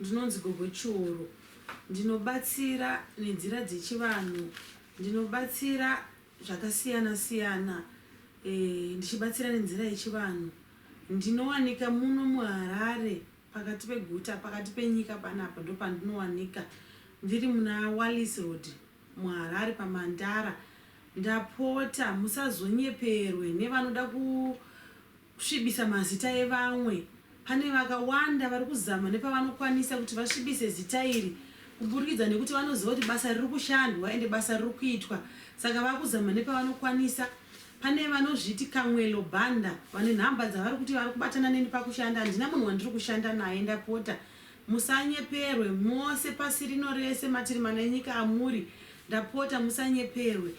Ndinonzi Gogo Chiuru. Ndinobatsira nenzira dzechivanhu. Ndinobatsira zvakasiyana siyana ndichibatsira nenzira yechivanhu. Ndinowanika muno muHarare pakati peguta, pakati penyika panapa ndopandinowanika. Ndiri muna Wallis Road muHarare paMandara. Ndapota musazonyeperwe nevanoda ku. Kusvibisa mazita evamwe. Pane vakawanda vari kuzama nepavanokwanisa kuti vasvibise zita iri kuburikidza nekuti vanoziva kuti basa riri kushandwa ende basa riri kuitwa saka vava kuzama nepavanokwanisa. Pane vanozviti Kamwelo Banda vane nhamba dzavari kuti vari kubatana neni pakushanda. Handina munhu wandiri kushanda naye ndapota musanyeperwe mose pasi rino rese matiri mana enyika amuri ndapota musanyeperwe.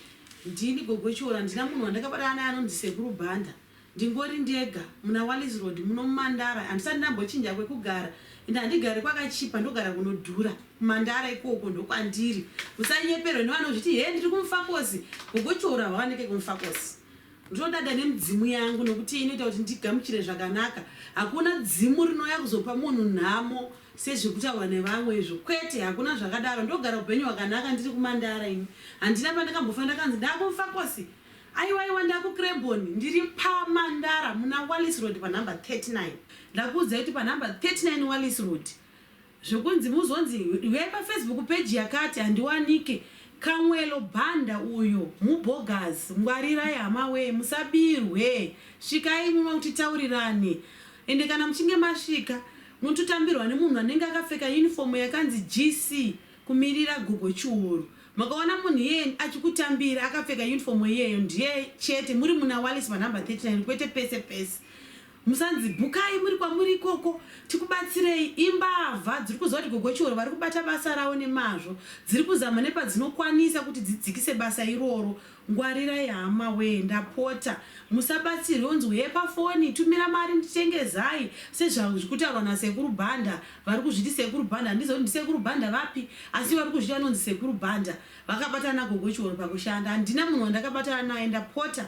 Ndini Gogo Chiora handina munhu wandakabatana naye anonzi Sekuru Banda. Ndingori ndega muna Wallis Road muno muMandara handisati ndambochinja kwekugara and handigari kwakachipa ndogara kunodhura. KuMandara ikoko ndokwandiri usanyeperwe nevanozviti hee ndiri kuMufakosi hugochora hwawanike kuMufakosi. Ndinodada nemidzimu yangu nokuti inoita kuti ndigamuchire zvakanaka. Hakuna dzimu rinouya kuzopa munhu nhamo sezviri kutaurwa nevamwe izvo. Kwete hakuna zvakadaro ndogara upenyu hwakanaka ndiri kuMandara ini. Handina pandakambofa ndakanzi ndaakuMufakosi. Aiwaiwa ndaku Crebon ndiri pa Mandara muna Wallis Road pa number 39 ndakuudzai kuti pa number 39 Wallis Road zvekunzi muzonzi huyai pa Facebook page yakati handiwanike Kamwelo Banda uyo mubogus ngwarirai hama wee musabirwe svikai muno kuti taurirane ende kana muchinge masvika munototambirwa nemunhu anenge akapfeka uniform yakanzi GC kumirira gogo chiuru makaona munhu iyeye achikutambira akapfeka uniform iyeyo ndiye chete muri muna wallis panumber 39 kwete pese pese musanzi bukai muri kwamuri ikoko tikubatsirei imbavha dziri kuziva kuti gogo chiuru vari kubata basa ravo nemazvo dziri kuzama nepadzinokwanisa kuti dzidzikise basa iroro Ngwarirai hama wee ndapota musabatsirwe wonzi hee pafoni tumira mari nditenge zai sezvazvikutaurwa nasekuru Banda varikuzviti sekuru Banda handizive kuti ndisekuru Banda vapi asi varikuzviti vanonzi sekuru Banda vakabatana nagogo Chiworo pakushanda handina munhu wandakabatana naye ndapota